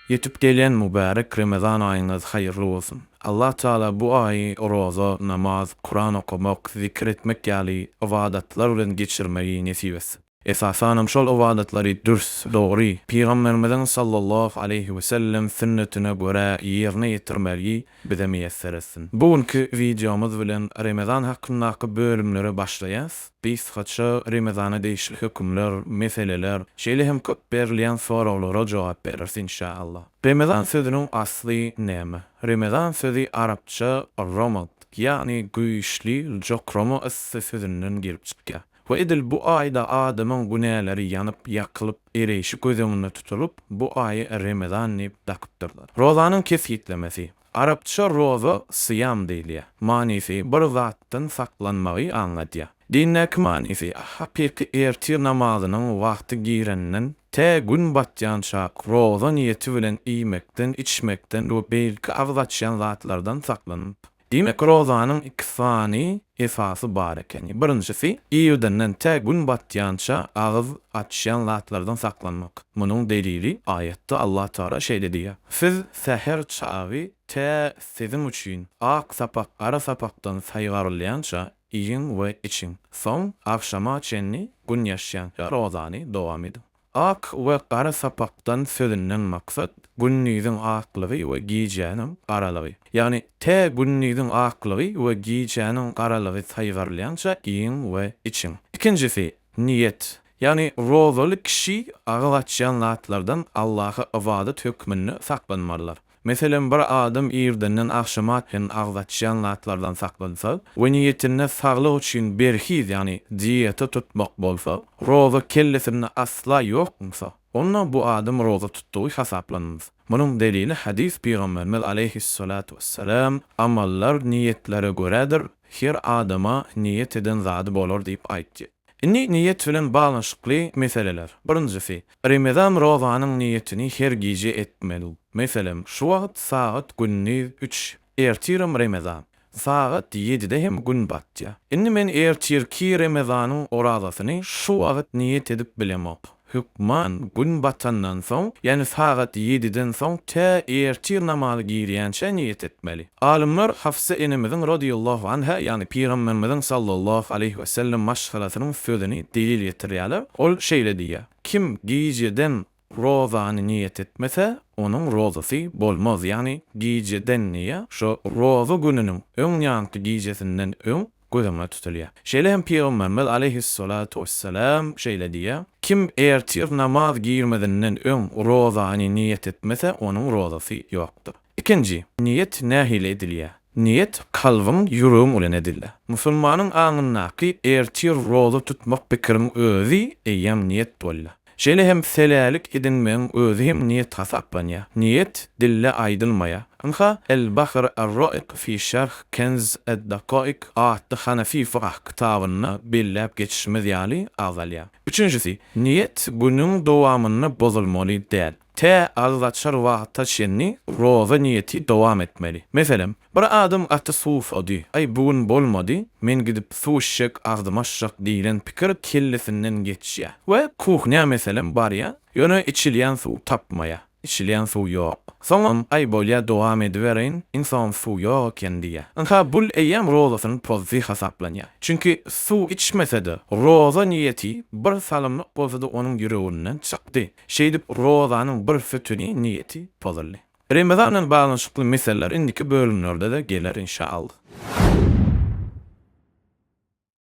Ýetip gelýän mübärek Remezan aýyňyz haýyrly bolsun! Allah Tagala bu aýy roza, namaz, Kuran okamak, zikir etmek ýaly ybadatlar bilen geçirmegi nesip etsin. Esasanam şol ybadatlary dürs, dogry, Pygamberimiziň sallallahu aleýhi wesellem sünnetine görä ýerine ýetirmegi bize miýesser etsin. Bu günki wideomyz bilen Remezan hakyndaky bölümlere başlaýas. Biz kysgaça Remezana degişli hökümler, meseleler, şeýle hem köp berilýän soraglara jogap bereris inşaallah. Remezan sözüniň asly näme? Remezan sözi arapça romad, ýagny güýçli, jokrama yssy sözünden gelip çykýar. We edil bu aýda adamyň günäleri ýanyp, ýakylyp, ereýşi göz öňünde tutulyp, bu aýy Remezan diýip dakypdyrlar. Rozanyň kesgitlemesi. Arapça roza, syýam diýilýär. Manysy bir zatdan saklanmagy aňladýar. Dindäki manysy, hakyky ertir namazynyň wagty girenden tä gün batýança roza niýeti bilen iýmekden, içmekden we beýlki agyz açýan zatlardan saklanyp, Diýmek, rozanyň iki sany esasy bar ekeni. Birinjisi, irden-den tä gün batýança agyz açýan zatlardan saklanmak. Munuň delili, aýatda Allatagala şeýle diýýär, Siz säher çagy tä siziň üçin ak sapak gara sapakdan saýgarylýança iýiň we içiň. Soň agşama çenli gün ýaşýança rozany dowam ediň. Ak we gara sapakdan sözünden maksat gündiziň aklygy we gijäniň garalygy. Ýagny tä gündiziň aklygy we gijäniň garalygy saýgarylýança iýiň we içiň. Ikinjisi, niýet. Ýagny rozaly kişi agyz açýan zatlardan Allaha ybadat hökmünde saklanmalydyr. Meselem, bir adam irdenden agşama çenli agyz açýan zatlardan saklansa we niýetinde saglyk üçin berhiz, ýagny dieta tutmak bolsa, roza kellesinde asla ýokmysa, onda bu adam roza tutdugy hasaplanmaz. Munuň delili hadys Pygamberimiz aleýhis-salatu wes-selam, Amallar niýetlere görädir, her adama niýet eden zady bolar diýip aýtdy. Indi niýet bilen baglanyşykly meseleler. Birinjisi, Remezan rozanyň niýetini her gije etmeli. Meselem, şu wagt sagat gündiz üç, ertiram remezan. Sagat ýedide hem gün batýar. Indi men ertirki remezanyň orazasyny şu wagt niýet edip bilemok. Hökman gün batandan soň, ýagny sagat ýediden soň tä ertir namazy girýänçä niýet etmeli. Alymlar Hafsa enemiziň radiýallahu anha, ýagny Pygamberimiziň sallallahu aleýhi we sellem maşgalasynyň sözüni delil getirýärler. Ol şeýle diýýär, Kim gijeden rozany niýet etmese, onuň rozasy bolmaz, ýagny gijeden diýýär, şo roza gününiň öň ýanky gijesinden öň göz öňünde tutulýar. Şeýle hem Pygamberimiz aleýhis-salatu wes-selam şeýle diýýär, Kim ertir namaz girmezinden öň rozany niýet etmese, onuň rozasy ýokdur. Ikinji, niýet nähili edilýär? Niýet kalbyň, ýüregiň bilen edilýär. Musulmanyň aňyndaky ertir roza tutmak pikiriň özi eýýäm niýet bolýar. Şeýle hem Selälik edinmegiň özi hem niýet hasaplanýar. Niýet dilde aýdylmaýar. Ynha, El-Bahr er-Roik fi şerh Kenz ed-Dakaik atly hanefi fykh kitabynda belläp geçişimiz ýaly agzalýar. Üçünjisi, niýet günüň dowamynda bozulmaly däl. Tä agzaçar wagta çenli roza niýeti dowam etmeli. Meselem, bir adam gaty suwsady, Aý, bu gün bolmady, men gidip suw içjek, agzym açjak diýlen pikir kellesinden geçýär we kuhnýa meselem barýar, ýöne içilýän suw tapmaýar. Içilýän suw ýok. Soňam, Aý, bolýar, dowam edibereýin, iň soňam suw ýok eken diýýär. Ynha, bul eýýäm rozasyny pozdy hasaplanýar. Çünki suw içmese-de, roza niýeti bir salymlyk bolsa-da onuň ýüreginden çykdy. Şeýdip, rozanyň bir sütüni, niýeti, pozuldy. Remezan bilen baglanyşykly meseleler indiki bölümlerde-de geler inşaallah.